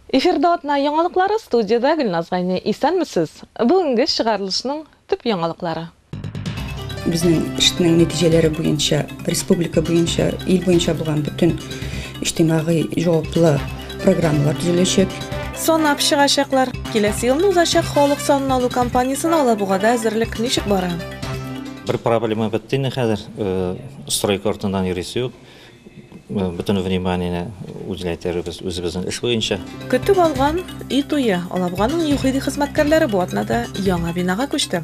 Эфирда атна яңалыклары студиядә Гөлназ Гайни. Исәнмесез. Бүгенге чыгарылышның төп яңалыклары. Безнең эшнең нәтиҗәләре буенча, республика буенча, ил буенча булган бөтен иҗтимагый җаваплы программалар төзеләчәк. Санап чыгачаклар. Киләсе елны узачак халык санын алу кампаниясенә Алабугада әзерлек ничек бара? Бер проблема бетте инде хәзер, стройка артыннан йөрисе юк. Бөтен вниманиене үзләйтербез үзебезнең эш буенча. Көтеп алган өй туе, Алабуганың ЮХИДИ хезмәткәрләре бу атнада яңа бинага күчте.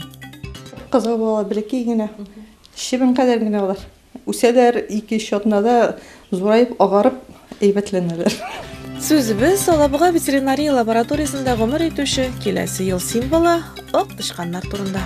Кызыл буалар бәләкәй генә, чебен кадәр генә алар. Үсәләр, ике-өч атнада зураеп, агарып, әйбәтләнәләр. Сүзебез, Алабуга ветеринария лабораториясендә гомер итүче киләсе ел символы, ак тычканнар турында.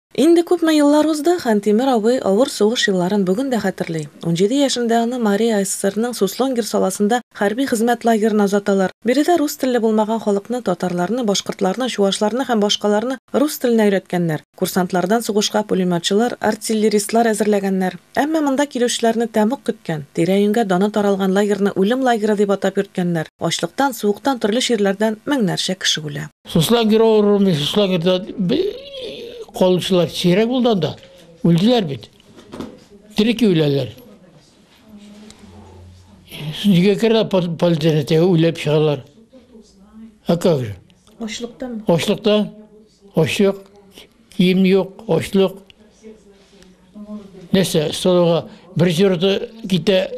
Инде күпме еллар узды, Хантимер абый авыр сугыш елларын бүген дә хәтерли. Унҗиде яшендә аны Марий АССРның Суслонгер саласында хәрби хезмәт лагерына озаталар. Биредә рус телле булмаган халыкны, татарларны, башкортларны, чуашларны һәм башкаларны рус теленә өйрәткәннәр. Курсантлардан сугышка пулеметчылар, артиллеристлар әзерләгәннәр. Әмма монда килүчеләрне тәмуг көткән. Тирә-юньгә даны таралган лагерьны үлем лагере дип атап йөрткәннәр. Ачлыктан, суыктан, төрле чирләрдән меңнәрчә кеше үлә. Суслангер авыруы, суслангерда калучылар сирәк булды анда. Үлделәр бит. Терек үләләр. Нигә керә полициядә үлеп чыгалар? А как же? Ашлыктан. Ашлыктан. Ашлык. Кием юк, ашлык. Нәрсә, солыга бер җырды китә,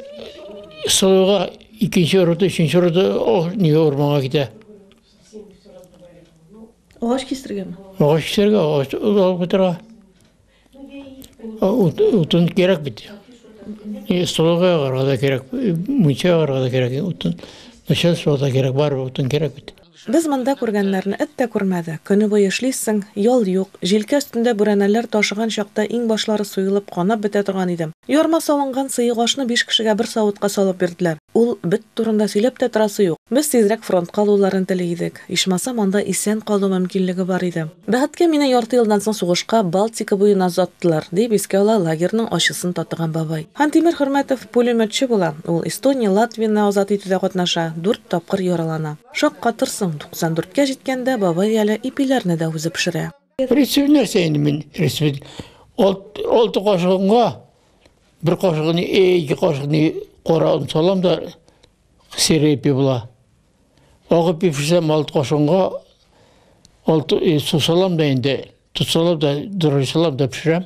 солыга икенче ырыты, өченче ырыты, не орманга китә. Агач кистергәнме? Агач кистергә, агач алып китергә. Утын кирәк бит. И столга карада кирәк, мунча карада кирәк утын. Начальство да кирәк, бар утын кирәк бит. Без монда күргәннәрне эт тә күрмәде. Көне буе эшлисең, ял юк. Җилкә өстендә бүрәнәләр ташыган чакта иң башлары суелып, канап бетә торган идем. Ярма салынган сыек ашны биш кешегә бер савытка салып бирделәр. Ул бет турында сөйләп тә торасы юк. Без тизрәк фронтка алуларын тели идек. Ичмасам, анда исән калу мөмкинлеге бар иде. Бәхеткә, мине ярты елдан соң сугышка Балтика буена озаттылар, дип искә ала лагерьның ачысын татыган бабай. Хантимер Хөрмәтов пулеметчы була. Ул Эстония, Латвияне азат итүдә катнаша, дүрт тапкыр яралана. Шаккатырсың, 94 кә җиткәндә бабай әле ипиләрне дә үзе пешерә. Рецепт нәрсә инде мин рецепт? Алты кашыгынга бер кашыгын, ике кашыгын кара он салам да серый ипи була. Агы ипи пешсәм алты кашыгынга алты су салам да инде, тоз салам да, дөрес салам да пешерәм.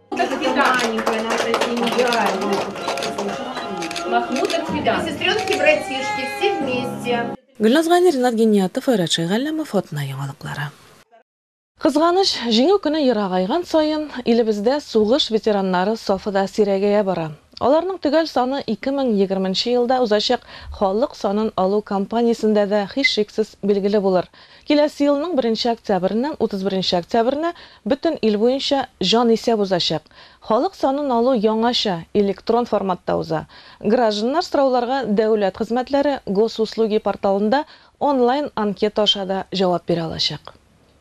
Гөлназ Гани, Ренат Гиниятов, Айрат Шәйгалләмов, Атна яңалыклары. Кызганыч, Җиңү көне ерагайган саен, илебездә сугыш ветераннары сафы да сирәгәя бара. Аларның төгәл саны 2020 нче елда узачак халык санын алу кампаниясендә дә һичшиксез билгеле булыр. Киләсе елның беренче октябреннән утыз беренче октябренә бөтен ил буенча җанисәп узачак. Халык санын алу яңача, электрон форматта уза. Гражданнар сорауларга Дәүләт хезмәтләре, Госуслуги порталында онлайн анкета аша да җавап бирә алачак.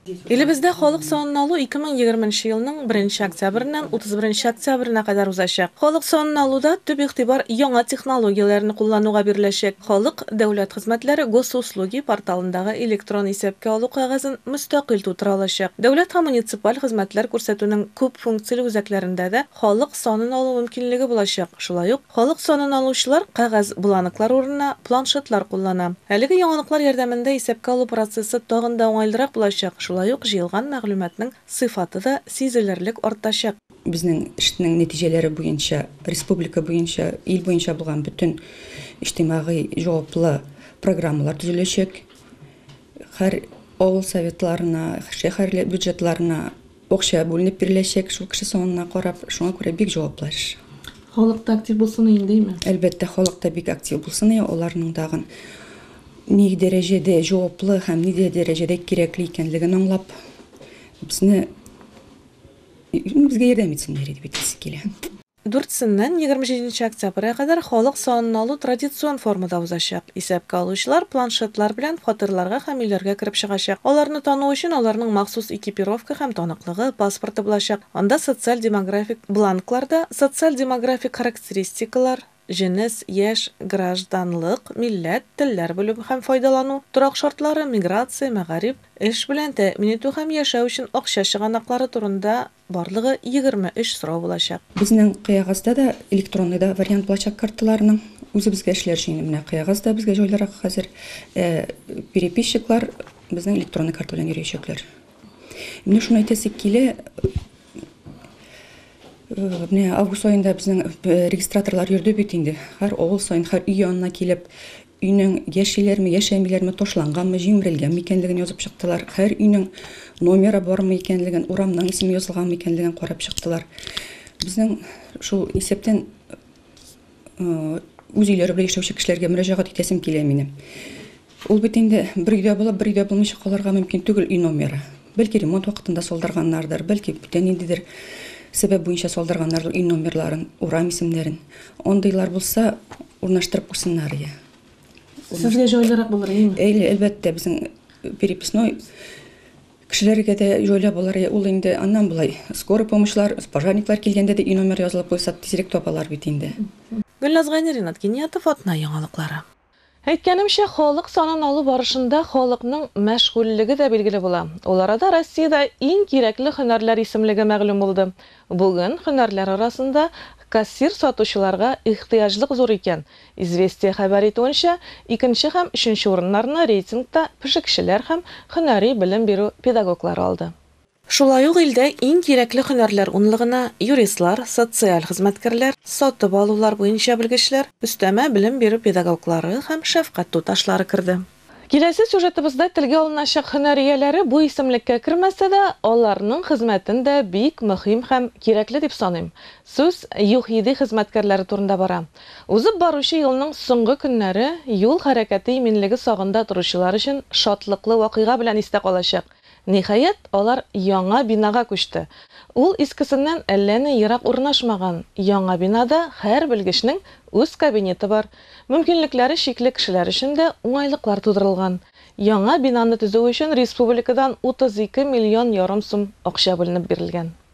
Илебездә халык санын алу ике мең егерме нче елның беренче октябреннән утыз беренче октябренә кадәр узачак. Халык санын алуда төп игътибар яңа технологияләрне куллануга биреләчәк, халык. Дәүләт хезмәтләре Госуслуги порталындагы электрон исәпкә алу кәгазен мөстәкыйль тутыра алачак. Дәүләт һәм муниципаль хезмәтләр күрсәтүнең күп функцияле үзәкләрендә дә халык санын алу мөмкинлеге булачак. Шулай ук, халык санын алучылар кәгазь бланклар урынына планшетлар куллана. Әлеге яңалыклар ярдәмендә исәпкә алу процессы тагын да уңайлырак булачак, шулай ук җыелган мәгълүматның сыйфаты да сизелерлек артачак. Безнең эшнең нәтиҗәләре буенча республика буенча, ил буенча булган бөтен иҗтимагый җаваплы программалар төзеләчәк. Һәр авыл советларына, шәһәр бюджетларына акча бүленеп биреләчәк, шул кеше санына карап. Шуңа күрә бик җаваплы эш. Халык та актив булсын өен, димме? Әлбәттә, халык та бик актив булсын өен, аларның тагын ни дәрәҗәдә җаваплы һәм ни дәрәҗәдә кирәкле икәнлеген аңлап, безне. Безгә ярдәм итсеннәр иде бит диясе килә. Дүртсеннән егерме җиденче октябрьгә кадәр халык санын алу традицион формада узачак. Исәпкә алучылар планшетлар белән фатирларга һәм өйләргә кереп чыгачак. Аларны тану өчен аларның махсус экипировка һәм таныклыгы, паспорты булачак. Анда социаль-демографик бланкларда социаль-демографик характеристикалар, җенес, яшь, гражданлык, милләт, телләр белү һәм файдалану, торак шартлары, миграция, мәгариф, эш белән тәэмин итү һәм яшәү өчен акча чыганаклары турында барлыгы 23 сорау булачак. Безнең Кыягазда да электронный да вариант булачак карталарның. Үзебезгә эшләр өчен инде менә Кыягаз да безгә җайлырак хәзер. Ә переписчиклар безнең электронный карта белән йөриячәкләр. Менә шуны әйтәсе килә, Менә август айында безнең э, регистраторлар йөрде бит инде. Һәр авыл саен, һәр өй янына килеп, өйнең яшиләрме, яшәмиләрме, ташланганмы, җимерелгәнме икәнлеген язып чыктылар. Һәр өйнең номеры бармы икәнлеген, урамның исеме язылганмы икәнлеген карап чыктылар. Безнең шул исәптән үз өйләре белән яшәүче кешеләргә мөрәҗәгать итәсем килә минем. Ул бит инде бер өйдә булып, бер өйдә булмыйча калырга мөмкин түгел өй номеры. Бәлки ремонт вакытында салдырганнардыр, бәлки бүтә ниндидер сәбәп буенча салдырганнардыр өй номерларын, урам исемнәрен. Андыйлар булса, урнаштырып куйсыннар ия. Сезгә җайлырак булыр, әйеме? Әлбәттә, безнең переписной Кешеләргә дә җайлап булыр ул инде. Аннан болай, скорый помощьлар, пожарниклар килгәндә дә өй номеры язылып куйсак, тизрәк табалар бит инде. Гөлназ Гайни, Ринат Киниятов, Атна яңалыклары. Әйткәнемчә, халык санын алу барышында халыкның мәшгульлеге дә билгеле була. Ул арада Россиядә иң кирәкле һөнәрләр исемлеге мәгълүм булды. Бүген һөнәрләр арасында кассир-сатучыларга ихтыяҗлык зур икән, Известия хәбәр итүенчә, икенче һәм өченче урыннарны рейтингта пешекчеләр һәм һөнәри белем бирү педагоглары алды. Шулай ук илдә иң кирәкле һөнәрләр унлыгына юристлар, социаль хезмәткәрләр, сатып алулар буенча белгечләр, өстәмә белем бирү педагоглары һәм шәфкать туташлары керде. Киләсе сюжетыбызда телгә алыначак һөнәр ияләре бу исемлеккә кермәсә дә, аларның хезмәтен дә бик мөһим һәм кирәкле дип саныйм. Сүз ЮХИДИ хезмәткәрләре турында бара. Узып баручы елның соңгы көннәре юл хәрәкәте иминлеге сагында торучылар өчен шатлыклы вакыйга белән истә калачак. Ниһаять, алар яңа бинага күчте. Ул искесеннән әллә ни ерак урнашмаган. Яңа бинада һәр белгечнең үз кабинеты бар, мөмкинлекләре чикле кешеләр өчен дә уңайлыклар тудырылган. Яңа бинаны төзү өчен республикадан 32 миллион ярым сум акча бүленеп бирелгән.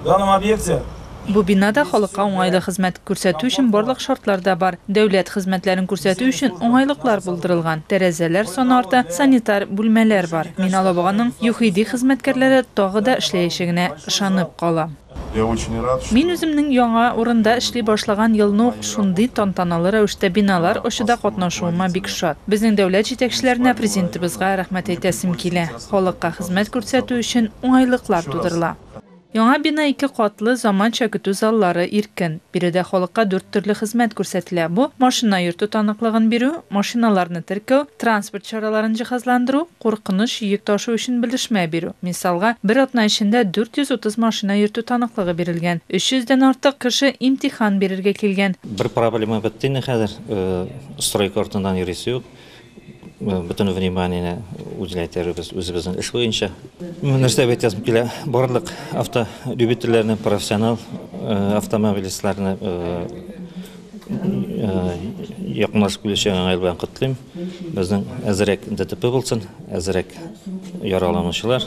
В данном объекте. Бу бинада халыкка уңайлы хезмәт күрсәтү өчен барлык шартлар да бар. Дәүләт хезмәтләрен күрсәтү өчен уңайлыклар булдырылган, тәрәзәләр саны арта, санитар бүлмәләр бар. Мин Алабуганың ЮХИДИ хезмәткәрләре тагы да эшләячәгенә ышанып калам. Мин үземнең яңа урында эшли башлаган елны ук шундый тантаналы рәвештә биналар ачуда катнашуыма бик шат. Безнең дәүләт җитәкчеләренә, Президентыбызга рәхмәт әйтәсем килә. Халыкка хезмәт күрсәтү өчен уңайлыклар тудырыла. Яңа бина ике катлы, заманча көтү заллары, иркен. Биредә халыкка дүрт төрле хезмәт күрсәтелә, бу, машина йөртү таныклыгын бирү, машиналарны теркәү, транспорт чараларын җиһазландыру, куркыныч йөк ташу өчен белешмә бирү. Мисалга, бер атна эчендә 430 машина йөртү таныклыгы бирелгән, 300 дән артык кеше имтихан бирергә килгән. Бер проблема бетте инде хәзер, стройка артыннан йөрисе юк. Бөтен вниманиене үзенә этәребез үзебезнең эш буенча. Мөнәсәбәт әйт язып килә. Барлык автолюбительләрне, профессионал автомобилистларны якынлашып килүче яңа ел белән котлыйм. Безнең әзрәк ДТП булсын, әзрәк яраланучылар.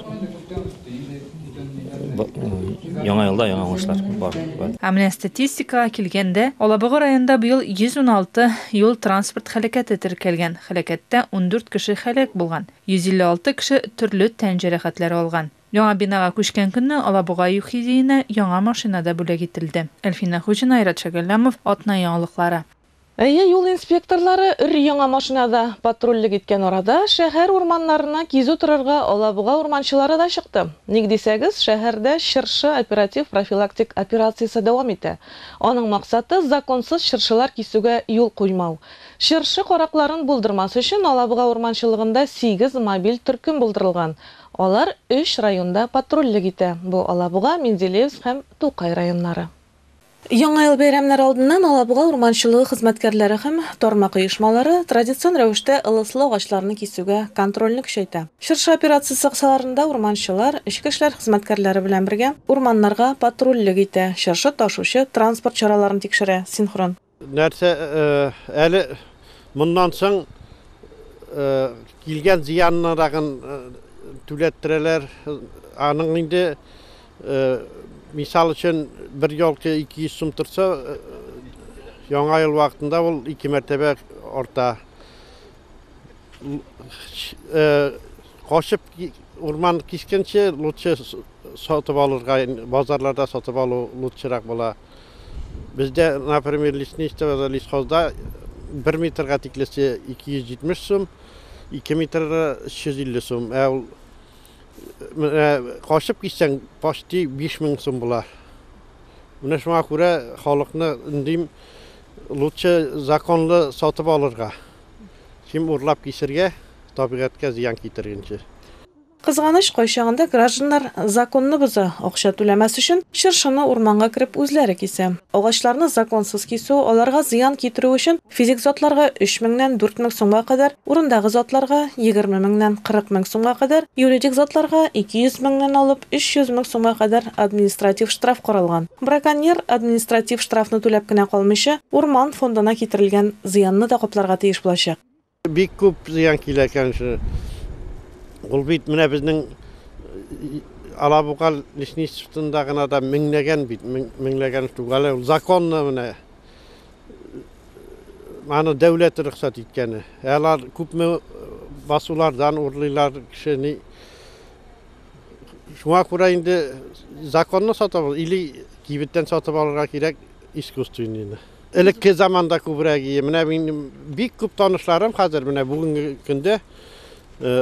Яңа елда яңа уңышлар бар. Ә менә статистикага килгәндә, Алабуга районында быел 116 юл-транспорт һәлакәте теркәлгән, һәлакәттә 14 кеше һәлак булган, 156 кеше төрле тән җәрәхәтләре алган. Яңа бинага күчкән көнне Алабуга ЮХИДИенә яңа машина да бүләк ителде. Әлфинә Хуҗина, Айрат Шәгәлләмов, Атна яңалыклары. Әйе, юл инспекторлары өр-яңа машинада патрульлек иткән арада шәһәр урманнарына кизү торырга Алабуга урманчылары да чыкты. Ник дисәгез, шәһәрдә чыршы оператив-профилактик операциясе дәвам итә. Аның максаты, законсыз чыршылар кисүгә юл куймау. Чыршы каракларын булдырмас өчен Алабуга урманчылыгында сигез мобиль төркем булдырылган. Алар өч районда патрульлек итә, бу Алабуга, Менделеевск һәм Тукай районнары. Яңа ел бәйрәмнәре алдыннан Алабуга урманчылыгы хезмәткәрләре һәм тармак оешмалары традицион рәвештә ылыслы агачларны кисүгә контрольне көчәйтә. Чыршы операциясе кысаларында урманчылар, эчке эшләр хезмәткәрләре белән бергә, урманнарга патрульлек итә, чыршы ташучы транспорт чараларын тикшерә, синхрон. Нәрсә, әле моннан соң килгән зыяннырагын түләттерәләр. Аның инде, мисал өчен, бер елка 200 сум торса, Яңа ел вакытында ул ике мәртәбә арта. Э, качып урман кискәнче лучше сатып алырга базарларда сатып алу лучшерак була бездә например лесничествода лесхозда бер метрга тиклесе 270 сум ике метрга 350 сум ә ул э, качып киссәң почти 5000 сум була менә шуңа күрә халыкны үндим Лучше законлы сатып алырга, чем урлап кисергә, табигатькә зыян китергенче. Кызганыч, кайчагында гражданнар законны боза, акча түләмәс өчен, чыршыны урманга кереп үзләре кисә. Агачларны законсыз кисү, аларга зыян китерү өчен физик затларга өч меңнән дүрт мең сумга кадәр Урындагы затларга, егерме меңнән кырык мең сумга кадәр, юридик затларга, ике йөз меңнән алып өч йөз мең сумга кадәр административ штраф каралган. Браконьер, административ штрафны түләп кенә калмыйча, урман фондына китерелгән зыянны да капларга тиеш булачак. Бик күп зыян килә икән шул. Ул бит менә безнең Алабуга лесничествосында гына да меңләгән бит, меңләгән штук. Әле ул законно менә аны дәүләт рөхсәт иткәне. Ә алар күпме э, басулардан урлыйлар кешене. Шуңа күрә инде законны сатып алып, или кибеттән сатып алырга кирәк искусственныйны. Элекке заманда күбрәк ие. Менә минем бик күп танышларым хәзер менә бүгенге көндә э,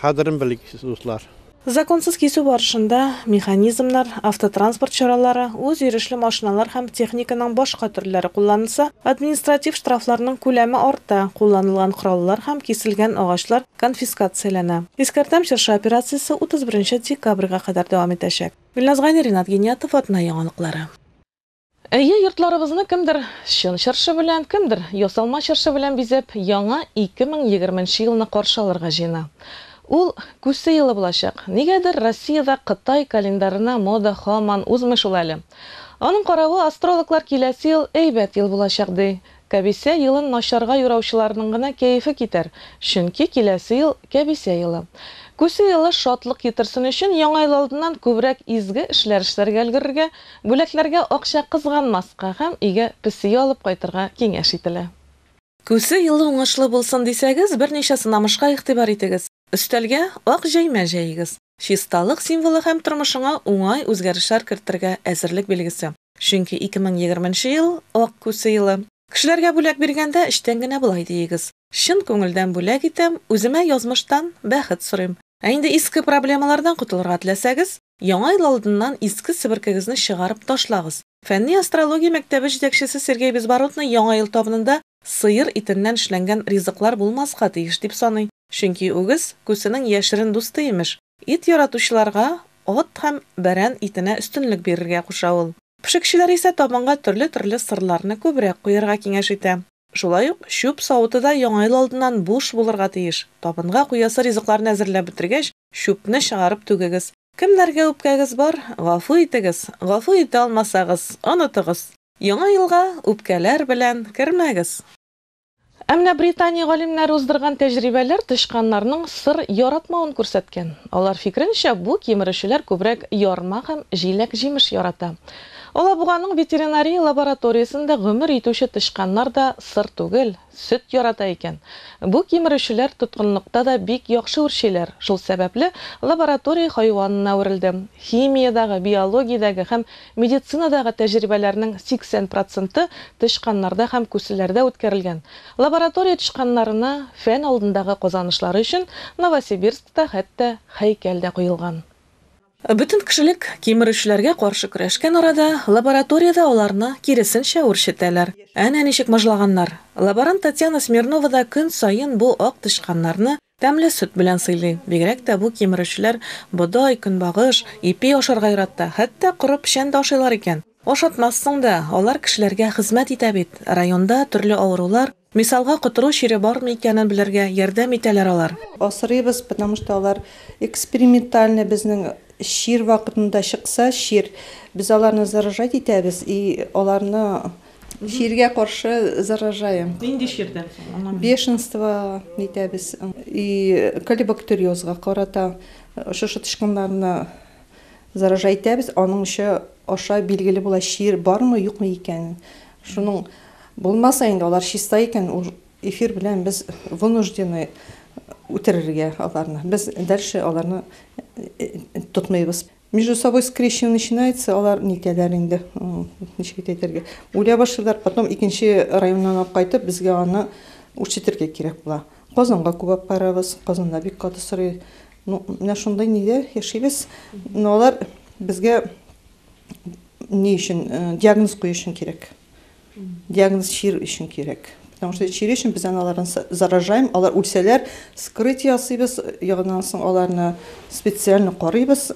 кадерен белик, дуслар. Законсыз кисү барышында механизмнар, автотранспорт чаралары, үзйөрешле машиналар һәм техниканың башка төрләре кулланылса, административ штрафларның күләме арта, кулланылган кораллар һәм киселгән агачлар конфискацияләнә. Искәртәм, Чыршы операциясе 31 нче декабрьгә кадәр дәвам итәчәк. Илназ Гайни, Ринат Гиниятов, Атна яңалыклары. Әйе, йортларыбызны кемдер чын чыршы белән, кемдер ясалма чыршы белән бизәп, яңа 2020 нче елны каршы алырга җыена. Ул Күсе елы булачак. Нигәдер Россиядә Кытай календарына мода һаман узмый шул әле. Аның каравы, астрологлар киләсе ел әйбәт ел булачак, ди. Кәбисә елын начарга юраучыларның гына кәефе китәр, чөнки киләсе ел, кәбисә елы. Күсе елы шатлык китерсен өчен, Яңа ел алдыннан күбрәк изге эшләр эшләргә өлгерергә, бүләкләргә акча кызганмаска һәм өйгә песи алып кайтырга киңәш ителә. Күсе елы уңышлы булсын дисәгез, берничә сынамышка игътибар итегез. Өстәлгә ак җәймә җәегез. Чисталык символы һәм тормышыңа уңай үзгәрешләр кертергә әзерлек билгесе. Чөнки 2020 нче ел, Ак күсе елы. Кешеләргә бүләк биргәндә, эчтән генә болай диегез, Чын күңелдән бүләк итәм, үземә язмыштан бәхет сорыйм. Ә инде иске проблемалардан котылырга теләсәгез, Яңа ел алдыннан иске себеркегезне чыгарып ташлагыз. Фәнни астрология мәктәбе җитәкчесе Сергей Безбородный Яңа ел табынында сыер итеннән эшләнгән ризыклар булмаска тиеш дип саный, чөнки үгез, күсенең яшерен дусты имеш. Ит яратучыларга ат һәм бәрән итенә өстенлек бирергә куша ул. Пешекчеләр исә табынга төрле-төрле сырларны күбрәк куярга киңәш итә. Шулай ук чүп савыты да Яңа ел алдыннан буш булырга тиеш. Табынга куясы ризыкларны әзерләп бетергәч, чүпне чыгарып түгегез. Кемнәргә үпкәгез бар, гафу итегез, гафу итә алмасагыз, онытыгыз! Яңа елга үпкәләр белән кермәгез! Ә менә Британия галимнәре уздырган тәҗрибәләр тычканнарның сыр яратмавын күрсәткән. Алар фикеренчә, бу кимерүчеләр күбрәк ярма һәм җиләк-җимеш ярата. Алабуганың ветеринария лабораториясендә гомер итүче тычканнар да сыр түгел, Сөт ярата икән. Бу кимерүчеләр тоткынлыкта да бик яхшы үрчиләр, шул сәбәпле лаборатория хайванына әверелде. Химиядагы, биологиядәге һәм медицинадагы тәҗрибәләрнең 80 проценты тычканнарда һәм күселәрдә үткәрелгән. Лаборатория тычканнарына фән алдындагы казанышлары өчен Новосибирскта хәтта һәйкәл дә куелган. Бөтен кешелек кимерүчеләргә каршы көрәшкән арада, лабораториядә аларны, киресенчә, үрчетәләр. Әнә ничек мыжлаганнар! Лаборант Татьяна Смирнова да көн саен бу ак тычканнарны тәмле сөт белән сыйлый. Бигрәк тә бу кимерүчеләр бодай, көнбагыш, ипи ашарга ярата, хәтта коры печән дә ашыйлар икән. Ашатмассың да, алар кешеләргә хезмәт итә бит, районда төрле авырулар, мисалга котыру чире бармы икәнен белергә ярдәм итәләр алар. Асрыйбыз, потому что алар экспериментальный безнең чир вакытында чыкса, чир, без аларны заражать итәбез и аларны чиргә каршы заражаем. Нинди чирдән соң, аңламыйм. Бешенство итәбез и колебактериозга карата шушы тычканнарны. Заражайтәбез, аның очы аша билгеле була чир бармы, юкмы икән. Шуның булмаса инде алар чиста икән, ул эфир белән без вынуждены үтерергә аларны. Без дальше аларны тотмыйбыз. Между собой скрещен начинается, алар нитәләр инде, ничек итә әйтергә. Үлә башлыйлар, потом икенче районнан алып кайтып, безгә аны үрчетергә кирәк була. Казанга күбәп карабыз, Казанда бик каты сорый. Ну, менә шундый нидә яшибез. Но алар безгә ни өчен, э, диагноз кую өчен кирәк. Диагноз чир өчен кирәк. Потому что чир өчен без аналарны с- заражаем, алар үлсәләр, скрыть ясыйбыз, ягыннан соң аларны специально карыйбыз.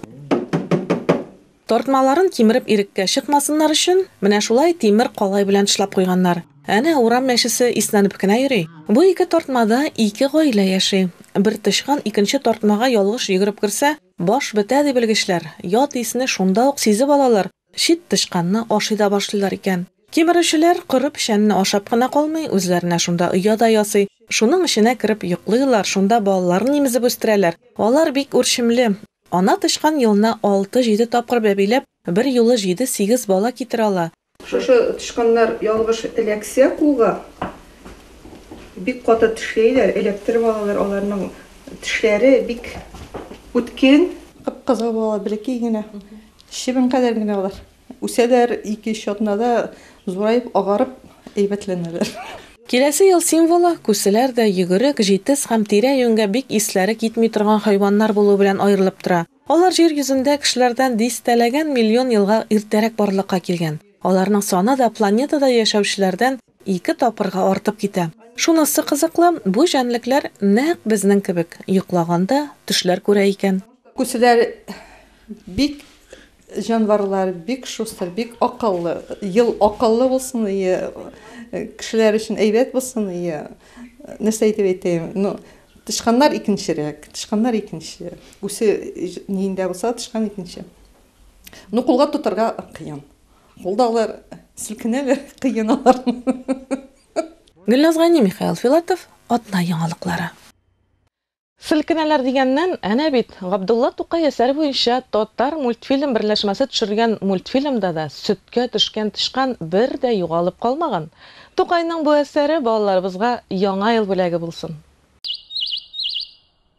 Тартмаларын кимереп иреккә чыкмасыннар өчен, менә шулай тимер калай белән тышлап куйганнар. Әнә урам мәчесе иснәнеп кенә йөри. Бу ике тартмада ике гаилә яши. Бер тычкан икенче тартмага ялгыш йөгереп керсә, баш бетә, ди белгечләр. Ят исне шунда ук сизеп алалар, чит тычканны ашый да башлыйлар икән. Кимерүчеләр коры печәнне ашап кына калмый, үзләренә шунда оя да ясый. Шуның эченә кереп йоклыйлар, шунда балаларын имезеп үстерәләр. Алар бик үрчемле. Ана тычкан елына алты-җиде тапкыр бәбиләп, бер юлы җиде-сигез бала китерә ала. Шушы тычканнар ялгыш эләксә кулга, бик каты тешләйләр, эләктереп алалар, аларның тешләре бик үткен. Кып-кызыл була, бәләкәй генә, чебен кадәр генә алар. Үсәләр, ике-өч атнада зураеп, агарып, әйбәтләнәләр. Киләсе ел символы, күселәр дә, йөгерек, җитез һәм тирә-юньгә бик исләре китми торган хайваннар булу белән аерылып тора. Алар Җир йөзендә кешеләрдән дистәләгән миллион елга иртәрәк барлыкка килгән. Аларның саны да планетада яшәүчеләрдән Ике тапкырга артып китә. Шунысы кызыклы, бу җәнлекләр нәкъ безнең кебек, йоклаганда төшләр күрә икән. Күселәр бик җанварлар, бик шустыр, бик акыллы. Ел акыллы булсын, ие кешеләр өчен әйбәт булсын, ие нәрсә итеп әйтәем, ну, тычканнар икенчерәк, тычканнар икенче. Гүсе ниендә булса, тычкан икенче. Ну, кулга тотарга кыен. Кулдаулар селкенәләр, кыеналар. Гөлназ Гани, Михаил Филатов, Атна яңалыклары. Селкенәләр дигәннән, әнә бит, Габдулла Тукай әсәре буенча Татармультфильм берләшмәсе төшергән мультфильмда да сөткә төшкән тычкан бер дә югалып калмаган. Тукайның бу әсәре балаларыбызга Яңа ел бүләге булсын!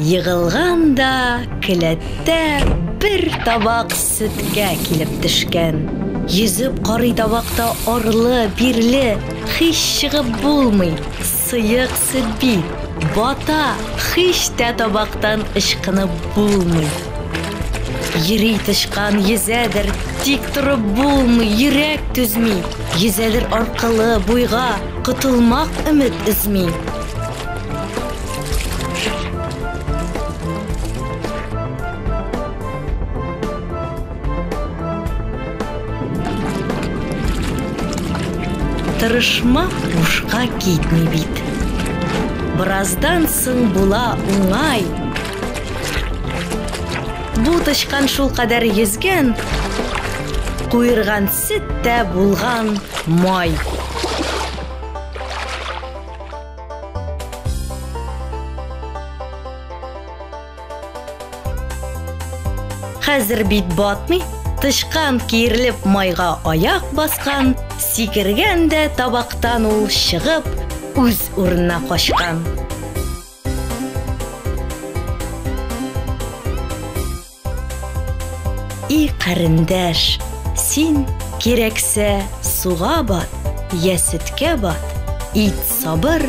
Егылган да келәттә бер табак сөткә килеп төшкән. Йөзеп карый табакта арлы, бирле, хич чыгып булмый, сыек сөт бит, бата, хич тә табактан ычкынып булмый. Йөри тычкан, йөзәдер, тик торып булмый, йөрәк түзми, йөзәдер аркылы, буйга, котылмак өмет өзми. Тырышма бушка китми бит. Бераздан соң була уңай. Бу тычкан шул кадәр йөзгән, куерган сөт тә булган май. Хәзер бит батмый, тычкан киерлеп майга аяк баскан, сикергән дә табактан ул чыгып, үз урынына качкан. И карендәш, син кирәксә суга бат, я сөткә бат, ит сабыр,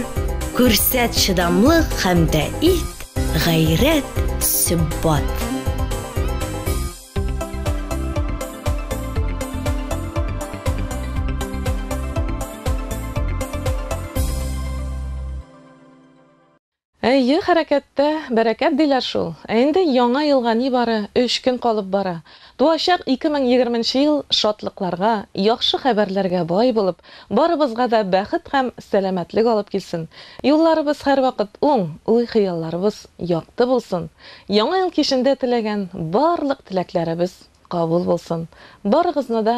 күрсәт чыдамлык һәм дә ит гайрәт сөббат. Әйе, хәрәкәттә, бәрәкәт диләр шул. Ә инде Яңа елга нибары өч көн калып бара. Туачак 2020 нче ел шатлыкларга, яхшы хәбәрләргә бай булып, барыбызга да бәхет һәм сәламәтлек алып килсен. Юлларыбыз һәрвакыт уң, уй-хыялларыбыз якты булсын. Яңа ел кичендә теләгән барлык теләкләребез кабул булсын. Барыгызны да